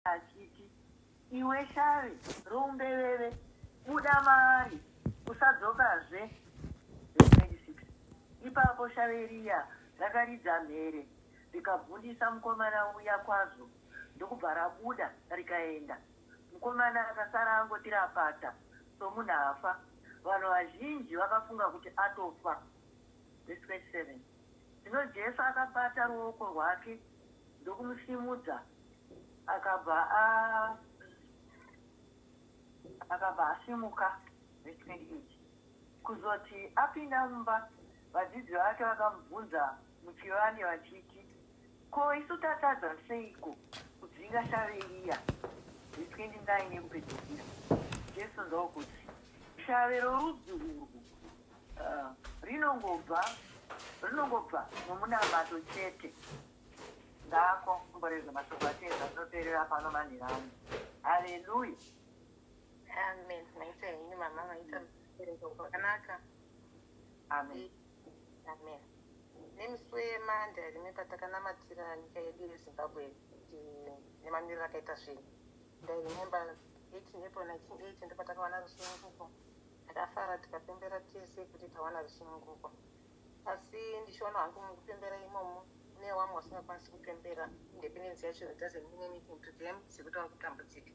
Akapindura achiti, Iwe shavi roumbeveve, buda maari, usadzokazve! Vhesi 26 Ipapo shavi riya rakaridza mhere rikabvundisa mukomana uya kwazvo ndokubva rabuda rikaenda. Mukomana akasara angoti rapata somunhu afa. Vanhu vazhinji vakafunga kuti atofa. Vhesi 27 Zvino Jesu akabata ruoko rwake ndokumusimudza Akabva a akabva asimuka respect it kuzoti apinda mumba vadzidzi vake vakamubvunza muchivande vachiti ko isu tatadza seiko kudzinga shave riya re 29 yekupedzisira Jesu ndokuti shave rorudzi urwu uh, rinongobva rinongobva nomunamato chete Ngaako mborerwe mashoko ake ese azoteerera pano manhira ano. Haleluya. Amen. Maita henyu mama maita mubereko kwakanaka. Amen. Amen. Nemusi weMande rimwe patakanamatira nyika yedu yeZimbabwe eh, nemamiriro akaita zvinhu. Ndairemember 18 April 1980 ndipo takawana rusununguko. Takafara tikapembera tese kuti tawana rusununguko. Asi ndichiona hangu mukupembera imomo mune wamwe wasingakwanisi kupembera independence yacho it doesn't mean anything to them sekuti vari kutambudzika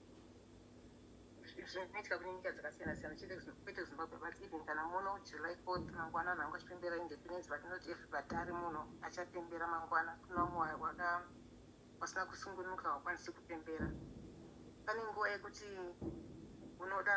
zvinoitika kune nyika dzakasiyana siyana chete kwete zimbabwe but even kana muno july 4 mangwana vanhu vanga vachipembera independence but not everybody ari muno achapembera mangwana kune vamwe waka wasina kusungunuka hawakwanisi kupembera pane nguva yekuti unoda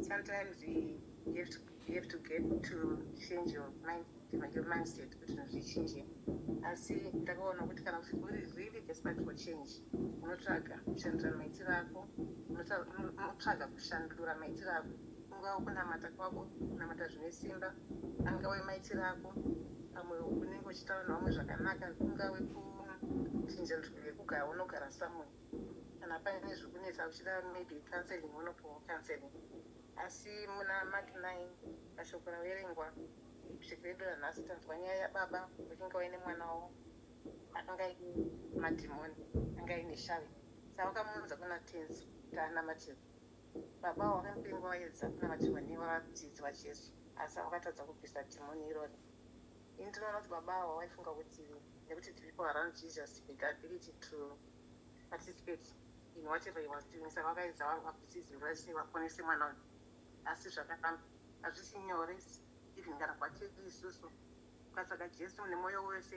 Sometimes you have to, you have to get to change your mind, your mindset kuti zvinhu zvichinje. Asi ndakaona kuti kana uri really desperate for change, unotsvaga kushandura maitiro ako, unotsvaga kushandura maitiro ako. Ungava kunamata kwako, kunamata zvine simba, angave maitiro ako, pamwe unenge uchitaura nevamwe zvakanaka, ungave kuchinja nzvimbo yekugara, unogara somewhere. kana paine zvikunetsa uchida maybe counseling unopuhwa counseling asi muna mak 9 mashoko raverengwa kusvika edu ranhasi tanzwa nyaya yababa vakinga vaine mwana wavo akanga aine madhimoni anga aine shavi savakamuunza kuna tenzi kuti anamatirwa baba avo vakamupengwa vaedza kunamatirwa nevadzidzi vajesu asi vakatadza kubvisa dhimoni irori ini ndinoona kuti baba avo vaifunga kuti nekuti tiripo around jesus with ability to participate in whatever he was doing saka vakaedza vangu vakusizi vese vaponese mwana uyu asi zvakafamba hazvisi nyore even kana kwatiri isusu ukatsvaga Jesu nemoyo wese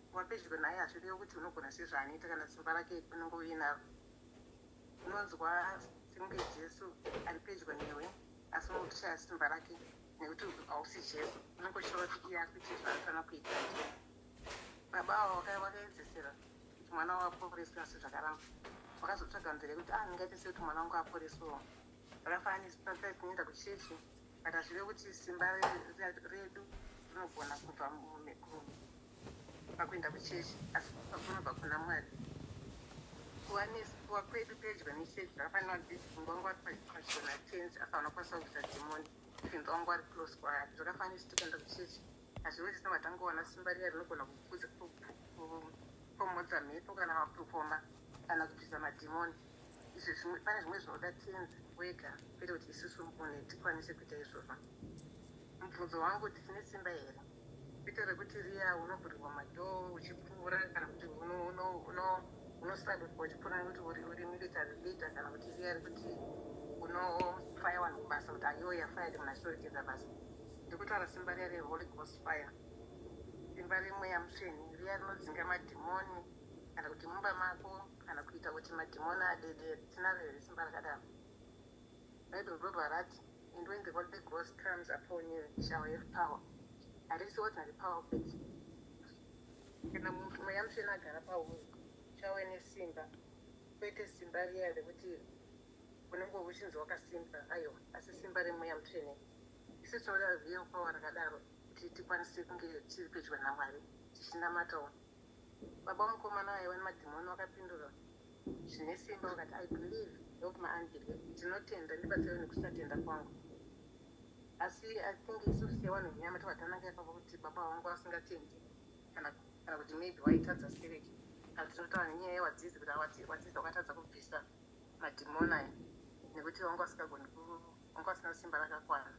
kuva pedyo naye hazvirevi kuti unogona zvese zvaanoita kana simba rake unenge uinaro unonzwa sekunge Jesu ari pedyo newe asi unenge uchishaya simba rake nekuti hausi Jesu unenge uchitaura kuti iye akuita zvaanofanira kuita baba avo vakaedzesera waka Kuti mwana wavo aporeswe asi zvakaramba. Wakazotsvaga nzira yekuti ah ndingaite sei kuti mwana wangu aporeswewo. Zvakafananisa patai kunoenda kuchechi but hazvive kuti simba redu rinogona kubva pakuenda kuchechi asi pakunobva kuna Mwari. Kuva nekuva kwedu pedyo nechechi zvakafanira kuti pfungwa wangu ari pachona tenzi apa anokwanisa kuita dhimoni tenzi wangu ari close kwaari zvakafanira kuti tikaenda kuchechi Hazviwe zvisina vatangoona simba riya rinogona kupfuza kupomodza mhepo kana mapurukoma kana kubvisa madhimoni izvi zvimwe pane zvimwe zvinoda tenzi wega kwete kuti isusu mune tikwanise kuita izvozvo mubvunzo wangu kuti tine simba here kwete rekuti riya unovhurirwa madhoo uchipfuura kana kuti unosabirwa uchipfuura nekuti uri uri military leader kana kuti riya rekuti unofaya vanhu kubasa kuti ayoya faya kuti munashoregeza basa Ndikutaura simba riya re Holy Ghost fire, simba re mweya musveni riya rinodzinga madhimoni kana kuti mumba mako kana kuita kuti madhimoni adedere. Tinaro here simba rakadaro? Bible robva rati and when the Holy Ghost comes upon you you shall have power. Harisi ordinary power futi. Kana munhu mweya musveni agara pauri uchave nesimba, kwete simba riya rekuti unenge uchinzi wakasimba, aiwa, asi simba re mweya musveni. Isu tinoda real power rakadaro kuti tikwanise kunge tiri pedyo naMwari tichinamatawo. Baba womukomana vaiva nemadhimoni vakapindura zvine simba vakati, I believe, help my unbelief, ndinotenda, ndibatsirewo nekusatenda kwangu. Asi I think isu sevanhu venyama tobva tananga ipapo kuti baba ava vanga vasingatendi kana kana kuti maybe vaitadza spirit kana kuti tinotaura nenyaya yewadzidzi kuti awati wadzidzi wakatadza kubvisa madhimoni aya nekuti vanga vasingagoni ku- Mukuru asina simba rakakwana.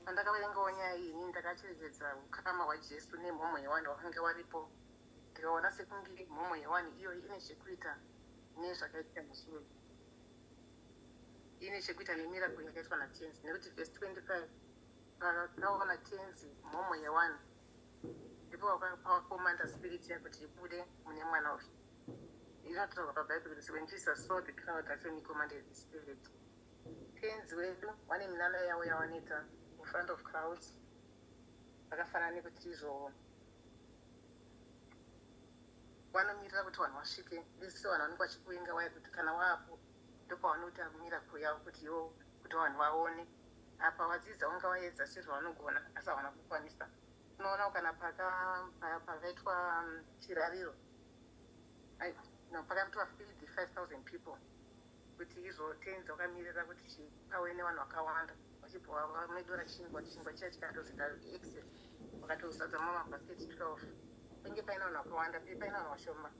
Pandakaverengawo nyaya iyi inini ndakacherechedza hukama hwaJesu nemhomho yewani wakange waripo ndikaona sekunge mhomho yewani iyoyi ine chekuita nezvakaitika mushure. Ine chekuita nemiracle yakaitwa naTenzi nekuti verse 25 pakaona Tenzi mhomho yewani ndipo wakakomanda spirit iya kuti ibude mune mwana uyu inotaurwa pabhaibheri kuti when jesus saw the crowd that's when he commanded the spirit tenzi wedu vane minana yavo yavanoita in front of crowds vakafanana nekuti izvo vanomirira kuti vanhu vasvike vese vanhu vanenge vachikuvenga waya kuti kana waapo ndopavanoita miracle yavo kuti yo kuti vanhu vaone apa vadzidza vanga vaedza sezvavanogona asi havana kukwanisa unoona kana pakaitwa chirariro pakaitwa feed 5000 people kuti izvotenza vakamirira kuti chipawe nevanhu vakawanda vachibhowa vamedora chingwa chingwa chiya chikatozita excess vakatozadza mamabasket 12 pange paine vanhu vakawanda pe paine vanhu vashoma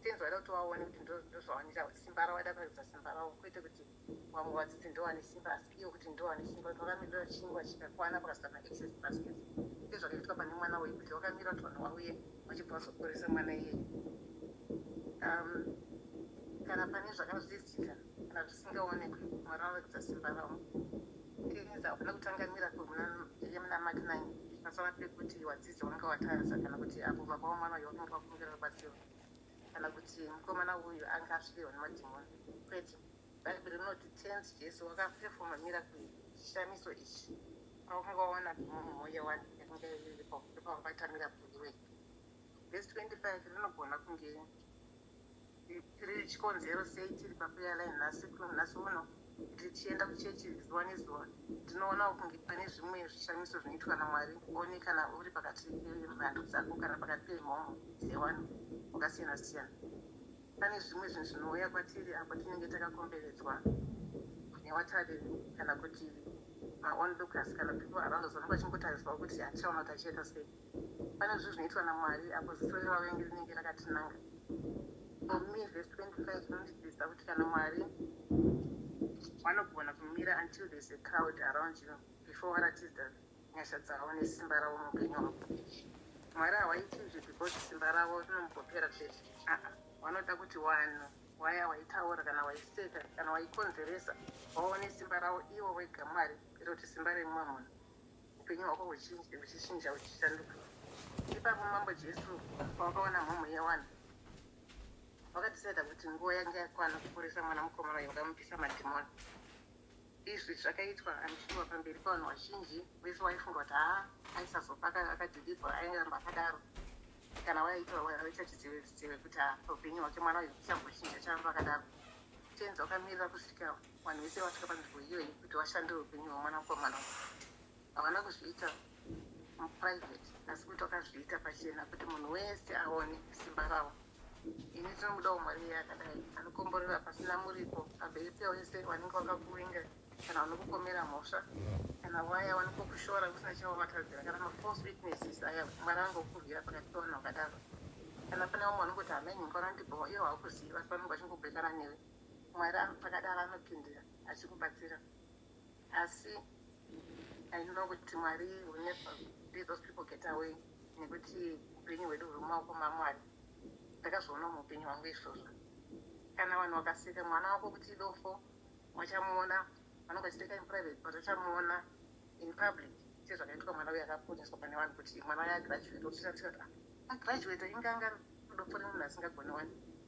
tenzi vaida kuti vaone kuti ndozvavanira simba ravo vaida kuratidza simba ravo kwete kuti Vamwe vadzidzi ndovane simba asi iwe kuti ndovane simba kuti vakamirira chingwa chikakwana pakazara ma excess baskets sezvakaitwa pane mwana uyu kuti vakamira kuti vanhu vauye vachibva vazoporesa mwana iyeye um, kana pane zvakazvizitika kana zvisingaonekwi mwari vanoratidza simba ravo tinza havana kutanga miracle muna iye muna mak 9 pasava pekuti wadzidza wanga watadza kana kuti apo baba wamwana uyo vakange vakumbira rubatsiro kana kuti mukomana uyu anga asvirwa nemadhimoni kwete bhaibheri rinoti tenzi jesu wakapefoma miracle chishamiso ichi paunga waona dhimoni mweya wani yainga iripo ndopaungaita miracle iwe vhesi 25 rinogona kunge tiri chikonzero sei tiri pakuya line nhasi kunhasi uno Tichienda kuchechi zuva nezuva, tinoonawo kunge pane zvimwe zvishamiso zvinoitwa naMwari. One kana uri pakati pemhando dzako kana pakati pemhomho dzevanhu vakasiyana-siyana. Pane zvimwe zvinhu zvinouya kwatiri apo tinenge takakomberedzwa nevatariri kana kuti maonlookers kana people around us vanenge vachingotarisirawo kuti achaona kuti achaita sei. Pane zvinhu zvinoitwa naMwari apo ziso revavengi rinenge rakatinanga. For me verse 25 inondidzidzisa kuti kana Mwari vanogona kumira until there's a cloud around you before varatidza nyasha dzavo nesimba ravo muupenyu hwako. Mwari hawaiti izvi because simba ravo rinombopera chete. Aa, vanoda kuti wanhu waya waitaura kana waiseka kana waikonzeresa waone simba ravo ivo vega Mwari kwete kuti simba remumwe munhu. upenyu hwako huchinje huchichinja huchishanduka ipapo mambo jesu pawakaona mhomho yewani wakadhisaida kuti nguva yange yakwana kuporesa mwana mukomana uyo wakamupisa madhimoni izvi zvakaitwa anishuwa pamberi pavanhu vazhinji vese waifunga kuti haa aisazopa akadhilivha airamba akadaro kana waitwa waita chizive zive kuti haa upenyu hwake mwana uyo uchambochinja charamba akadaro tenzi wakamirira kusvika Vanhu vese vasvika panzvimbo iyoyi kuti vashandire upenyu hwemwanakomana uyu havana kuzviita muprivate asi kuti vakazviita pachena kuti munhu wese aone simba ravo. Ini tinomudawo Mwari iye akadai anokomborera pasina muripo pamberi pewese vanenge vakakuvinga kana vanokupomera mhosva kana waya vanokokushora kusina chavavatadzira kana mafalse witnesses aya Mwari angokurwira pakati pevanhu vakadaro kana pane vamwe vanongoti hameno ngorandibhowa iyo haukuziva vanenge vachingobhekana newe Mwari akadaro anopindira achikubatsira asi I know kuti Mwari will never let those people get away nekuti upenyu hwedu huri mumaoko maMwari. Ndakazviona muupenyu hwangu izvozvo. Kana vanhu vakaseka mwana wako kuti idofo vachamuona vanenge vachiteka in private but vachamuona in public sezvakaitwa mwana uye akaponeswa pane vanhu kuti mwana waye agraduate otiratira kuti agraduate inganga dofo remunhu asingagone wani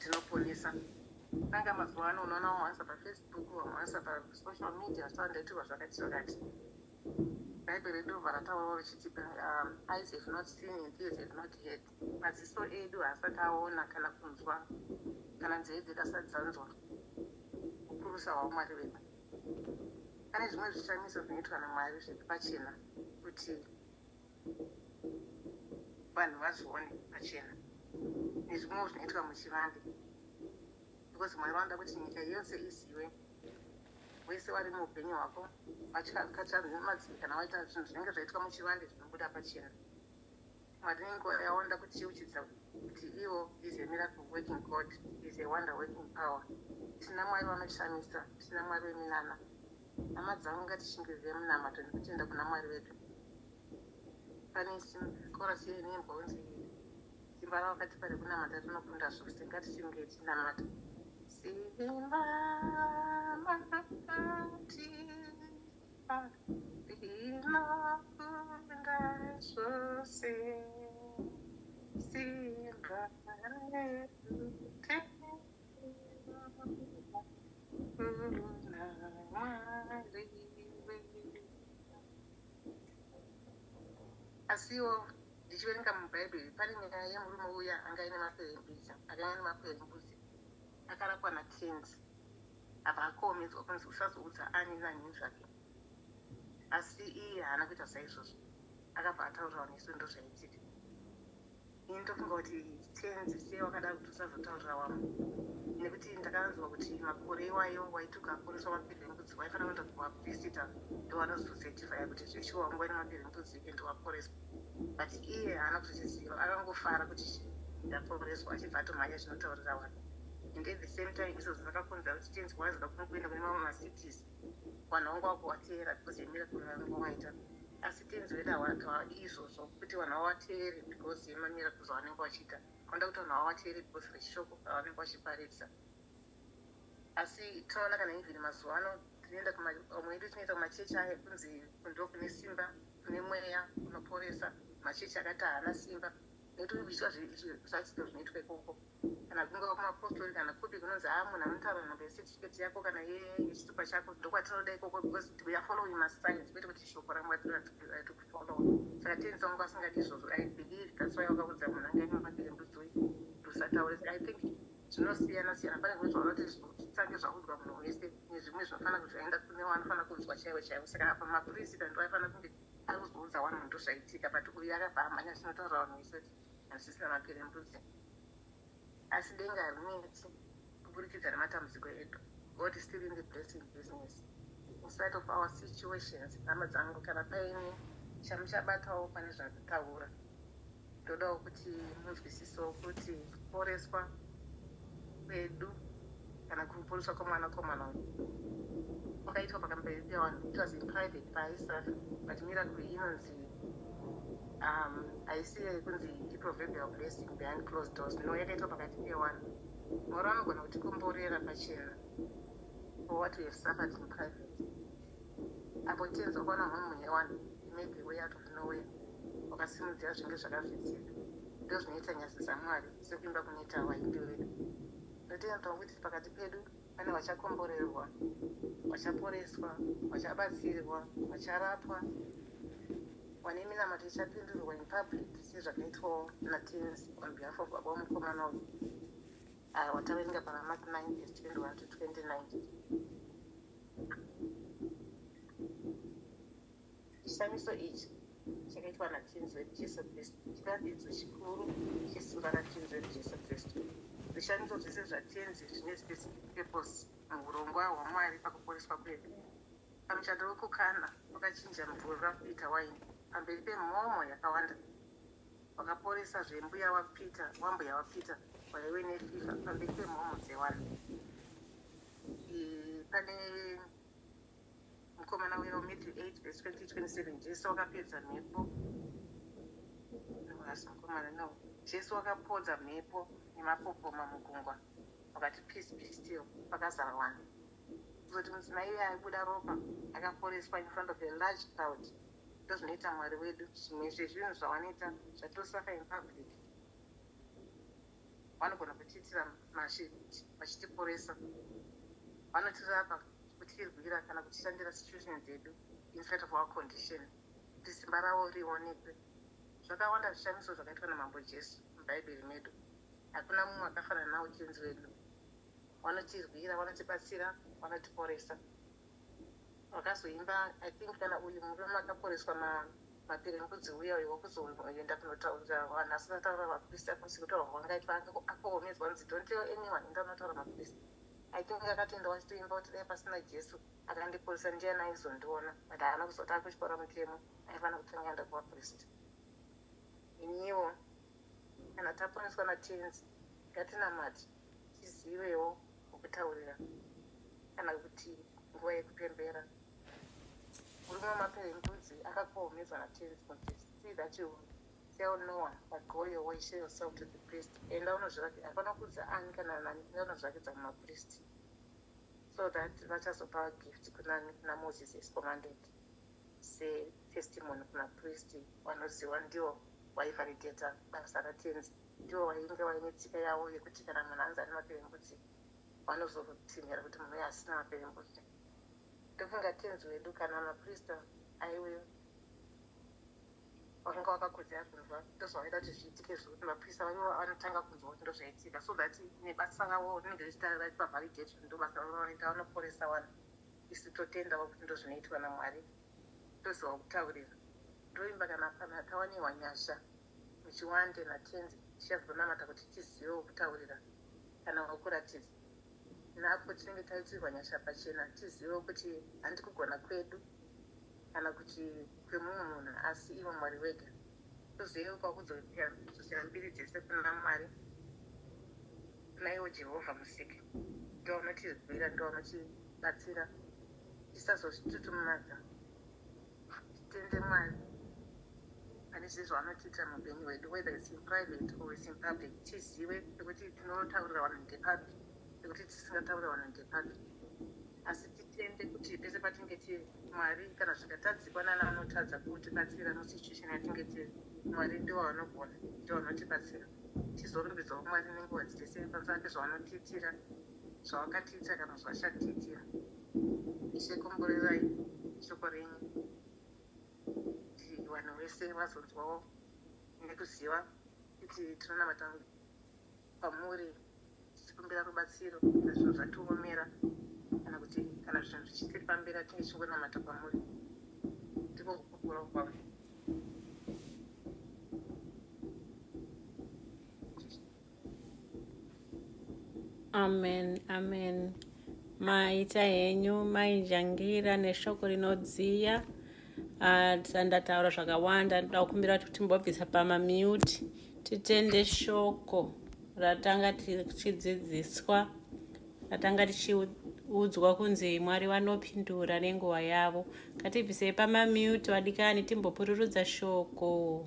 Tinoponesa Saka mazuva ano unoona vamwe vanisa pafacebook vamwe vanisa pasocial media so andaitirwa zvakati zvakati bhaibheri ndobva rataurawo richiti um, eyes have not seen and ears have not heard maziso edu haasati aona kana kunzwa kana nzeve dzedu asati dzanzwa ukurusa hwaumwari vedu pane zvimwe zvishamiso zvinoitwa namwari zviri pachena kuti vanhu vazvione pachena nezvimwewo zvinoitwa muchivande because mwari vanoda kuti nyika yose izive wese wari muupenyu hwako vachikatsamadzii kana waita zvinhu zvinenge zvaitwa muchivande zvinobuda pachena mwari nenguva yaonoda kutiuchidza kuti ivo is a miracle working god is a wonder working power tina mwari vanoshamisa tina mwari weminana Hama dzangu ngatishingirire munamato nekutenda kuna Mwari vedu. Pane chorus yeine imbwa unzi simba rawakatipa rekunamata rinokunda zvose ngatichinge tinamata. Simba makatipa rinokunda zvose simba rekutenda asiwo ndichiverenga mubhaibheri pane nyaya yemurume uya anga ine maperembudzi akanga ane maperembudzi akarapwa natenzi apa akomedzwa kunzi usazoudza ani nani zvake asi iye haana kuita saizvozvo akabva ataurawo nesu ndozvaitika Ini ndokungoti tenzi sei wakada kuti usazotaurira wangu nekuti ndakanzwa kuti makore iwayo waituka kuriswa mapiri embudzi waifana kuenda kuvaprista ndovanozosetifaya kuti zveshuwa wanga waina mapiri embudzi and waporeswa but iye haana kuzviziva akangofara kuti ndaporeswa achibva atomhanya zvinotaurira wanhu and at the same time izvozvo zvakakonzera kuti tenzi waziva kumwe kuenda kune mamwe macities vanhu vangu vako vateera because yemira kunanga kwamaita asi tenzi wedu hawadi izvozvo kuti vanhu vavateere because yemamira kuzo vanenge vachiita vanoda kuti vanhu vavateere because rechishoko ravanenge vachiparidza asi tinoona kana even mazuva ano tinoenda kumamwe edu tinoita kumachechi aya kunzi kundo kune simba kune mweya unoporesa machechi akati haana simba nekuti zviitwa zvachido zvinoitwa ikoko Kana kungava kumapostori kana kupi kunonzi haa munhu anotaura nhamba yesetifiketi yako kana yechitupa chako ndokwatinoda ikoko because we are following masigns kwete kuti shoko ramwari ratokufollowa saka tenzi wangu asingadi izvozvo i believe that's why wakaudza munhu anga imwe mabire mbudzi uyu kuti usataure i think zvinosiyana siyana pane zvimwe zvaunoti zvisange zvaudzwa munhu wese nezvimwe zvinofanira kuti zvaenda kune wanofanira kunzwa chaiwo chaiwo saka apa mapurisita ndoaifanira kunge ari kuzoudza wani munhu ndozvaitika but uyu akabva amhanya zvinotaura vanhu wese kuti Hazvisi rake rembudzi asi denga harinetsi kuburikidza nematambudziko edu God still in the blessing business in spite of our situations hama dzangu kana paine chamuchabatawo pane zvanditaura ndodawo kuti munzwisisewo kuti kuporeswa kwedu kana kumuponeswa kwemwanakomana uyu kwakaitwa pakamberi pevanhu it was in private paaisaf but miracle inonzi um, haisi yekunzi iproverbial blessing behind closed doors no yakaitwa pakati pewanhu mwari vanogona kutikomborera pachena for what we have suffered in private apo tenzi wakaona mhomho yewanhu imade way out of nowhere wakasimudzira zvinge zvakavhitsika ndo zvinoita nyasi dzamwari Sekuvimba kuneta wahindu vedu. Ndotenda tongo kuti pakati pedu pane vachakomborerwa, vachaporeswa, vachabatsirwa, vacharapwa, vane minamato ichapindurwa in public sezvakaitwawo naTens on behalf of baba wemukomana uyu avo vataverenga pana Mark 9 verse 21 to 29. Chishamiso ichi chakaitwa naTenzi wedu Jesu Kristu chiratidzo chikuru chesimba raTenzi wedu Jesu Kristu. Zvishamiso zvese zvaTenzi zvine specific purpose muhurongwa hwaMwari pakuporeswa kwedu. Pamuchato wekuKana, wakachinja mvura kuita waini pamberi pemhomho yakawanda. Wakaporesa zve mbuya waPeter wambuya waPeter waive nefifa pamberi pemhomho dzewanhu. Pane Mukomana uya weMatthew 8 vhesi 20:27 Jesu wakapedza mhepo Haasi mukomana, no. Jesu wakapodza mhepo nemapopoma mugungwa wakati peace be still pakazara vanhu. Kuzoti mudzimai uya aibuda ropa akaporeswa in front of a large crowd. Ndozvinoita Mwari wedu, zvimwe zvezvinhu zvawanoita zvatosaka in public. Vanogona kutiitira mashereji vachitiporesa. Vanotirapa, kutirwira kana kutishandira situation dzedu in spite of our condition kuti simba ravo rionekwe. Zvakawanda zvishamiso zvakaitwa naMambo Jesu muBhaibheri medu. Hakuna mumwe akafanana nawo Tenzi wedu. Vanotirwira, vanotibatsira, vanotiporesa. Wakazoimba I think kana uyu murume akaporeswa ma maperembudzi uya uyo wakuzoenda kunotaurira vanhu asi unataura mapurisa kusi kutaura kwangaitwa akaomedzwa nzi don't tell anyone enda unotaura mapurisa I think akatoenda wachitoimba kuti dai pasina Jesu akandiporesa ndiani aizondiona but haana kuzoti akutyora mutemo aifana kutanga aenda kumapurista iniwo kana taponeswa natenzi ngatinamati tizivewo kwekutaurira kana kuti nguva yekupembera. Murume wemapere endudzi akakohomedzwa naTenzi kuti, See that you tell no one, but go your way, show yourself to the priest. Enda unozviratidza, hapana kuudza ani kana nani, enda unozviratidza kumapristi, so that vachazopa gift kunani, kuna Moses as commanded, setestimony kumapristi, vanoziva ndivo vaivalidator basa raTenzi. Ndiwo wainge waine tsika yawo yekuti kana munhu anzi ane maperembudzi vanozotsinhira kuti munhu uyu asina maperembudzi. Ndofunga Tenzi wedu kana maprista aive wakanga wakakodzera kunzwa ndozvavaida kuti zviitike zvekuti maprista vaive vanotanga kunzwa kuti ndozvaitika so that nebasa ravo rinenge richita raipa validation ndobasa ravo ravaita vanoporesa vanhu isu totendawo kuti ndozvinoitwa naMwari toziva kutaurira ndoimba kana panhu hatawanirwa nyasha Muchiwande naTenzi tichazonamata kuti tizivewo kutaurira kana wakuratidza napo tinenge taitirwa nyasha pachena tizivewo kuti handi kugona kwedu kana kuti kwemumwe munhu asi iwe Mwari wega tozivewo kwakudzosera mbiri dzese kuna Mwari kuna iwo Jehovha musiki ndovanotizwira ndovanotibatsira tisazozvitutumadza Titende Mwari pane zvese zvaanotiitira muupenyu hwedu whether it's in private or it's in public tizive nekuti tinotaurira vanhu ndepapi nekuti tisingataurira vanhu ndepapi asi titende kuti pese patinge tiri mwari kana zvikatadzikwa nana anotadza kutibatsira musituation yatinge tiri mwari ndiwo anogona ndiwo anotibatsira tizorumbidzawo mwari nenguva dzese pamusana pezvaanotiitira zvawakatiitira kana zvawachatitiira. Ishe komborerai shoko renyu kuti vanhu vese vazonzwawo nekuziva kuti tinonamata pamuri tichikumbira rubatsiro kana zvinhu zvatiomera kana kuti kana zvinhu zvichitiripambira tinge tichingonamata pamuri ndiko kukura kwavo Amen, amen. Maita henyu mainjangira neshoko rinodziya ah, ndataura zvakawanda ndoda kukumbira kuti timbobvisa pamamute titende shoko ratanga tichidzidziswa ratanga tichiudzwa kunzi mwari vanopindura nenguva yavo ngatibvisei pamamute vadikani timbopururudza shoko